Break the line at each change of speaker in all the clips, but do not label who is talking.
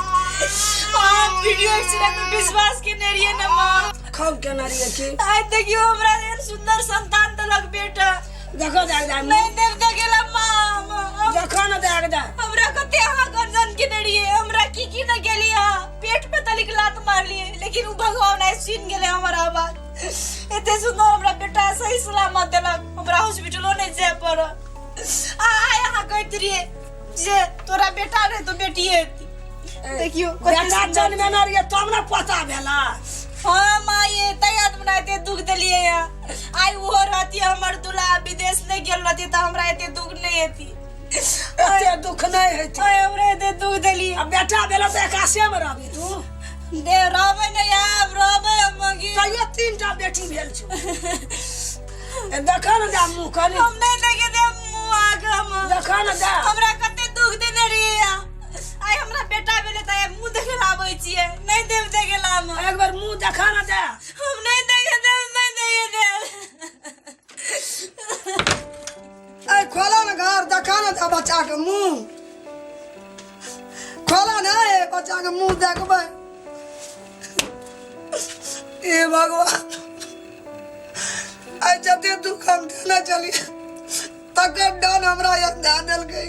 हम video accident में विश्वास के नहीं रहिए ना माँ खब के ना रहिए की आज देखियो हमरा लेल सुंदर संतान देलक बेटा देखो जाए जाए नहीं देव तो गेला माँ माँ, देखो ना जाए जाए हमरा कते अहाँ गर्जन के नहीं रहिए हमरा की की न गेली हा पेट पे तलिक लात मार लिए लेकिन उ भगवान आइ सुन गेले हमर आवाज एते सुंदर हमरा बेटा सही सलामत देलक हमरा हॉस्पिटलो नहीं जाए पड़ल आ आइ अहाँ कहैत रहिए जे तोरा बेटा रहे तो बेटी हेती देखियो कते बेटा सुन्दर जन्म में ना रहिए तब ना पता भेला हाँ माँ ये तैयार बनाते दुख दिलिए या आई वो रहती हमर दूल्हा विदेश नहीं गेल रहती तो हमरा एते दुख नहीं हेती एते दुख नहीं है थी। आय हमरा एते दुख दिलिए अब बेटा भेला तो एकासे में रहबी तू दे रहबे नहीं आब रहबे हम मगी कहियो तीन टा बेटी भेल छौ ए देखा न जा मुंह कनी हम नहीं देखे दे मुंह आग हम देखा न जा हमरा कते दुख देने रहिए आइ हमरा बेटा भेले त मुंह देखे ला आबै छिए नहीं देव देखे ला हम एक बार मुंह देखा न जा हम नहीं देखे दे नहीं देखे दे ऐ खोला ने घर देखा ने ता बच्चा के मुंह खोला ने ऐ बच्चा के मुंह देखबै ए भगवान ऐ जते दुख हम देने चलिए तकर डन हमरा यहाँ ध्यान देलकै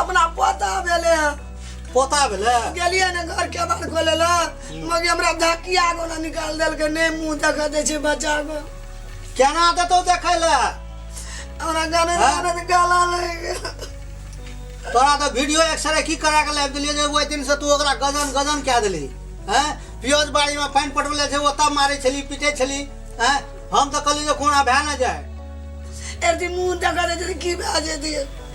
अपना पोता भेले हैं पोता भेले गेलिए ने घर के बार खोले ला मगे हमरा धकिया को ना निकाल देल के ने मुंह देख दे छे बच्चा को केना देतो देखे ले हमरा गाने हाँ? गाने से गाला लगे गेल। तोरा तो वीडियो एक्सरे की करा के लाइव दिलिए जे ओइ दिन से तू ओकरा गजन गजन कह देली हैं पियोज बाड़ी में पानी पटवले छै ओतब मारे छली पीटे छली हैं हम तो कहली जे कोना भए न जाए एरती मुंह देख दे छे की बाजे दिए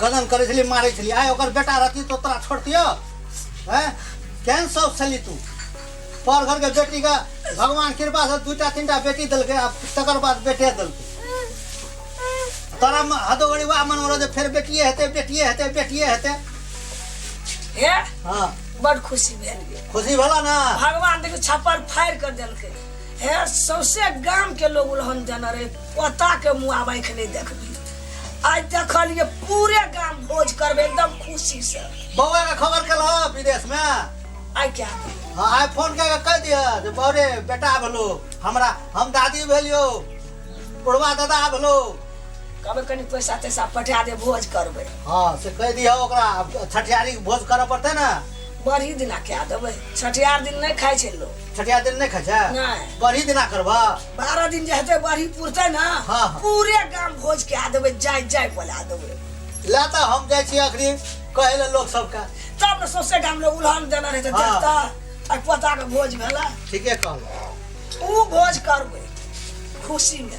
कदम करै छली मारै छली आइ ओकर बेटा रहती तो तोरा छोड़तियो हैं केहन शौक छली तू पर घरके बेटीके भगवान कृपासँ दूटा तीनटा बेटी देलकै आ तकर बाद बेटे देलकै तोरा म- हदो घड़ी वएह मन रहै जे फेर बेटिए हेतै बेटिए हेतै बेटिए हेतै हे हँ बड खुशी भेल गे। खुशी भेला ने भगवान देखियो छप्पर फाड़ि कर देलकै हे सौसे गाम के लोग उलहन देने रहे ओता के मुआ आँखि नहीं देखबी आज देखलिए पूरे गांव भोज करबे एकदम खुशी से बौआ के खबर केलह विदेश में आई क्या हाँ आइ फोन कऽ के कहि दिह जे बौरे बेटा भेलो हमरा हम दादी भेलियो बुढ़वा दादा भेलो कहबे कनी पैसा तैसा पठा दे भोज करबे हाँ से कहि दिह ओकरा आब छठियारी के भोज करऽ पड़तै ने बड़ी दिना क्या देबे छठियार दिन नहीं खाई छे लोग छठिया दिन नहीं खाई छे नहीं। बरही दिना करबा बारह दिन जे हेतै बढ़ी पुरतै ने हाँ, हाँ। पूरे गाम भोज कए देबै जाय जाय बोला देबै ले तो हम जाए छी अखरी कहे ले लोग सबका तब ने सौंसे गाम लोग उल्हान देना रहतै हाँ। देखता आ पोता के भोज भेला ठीके कहलो ओ भोज करबै खुशी में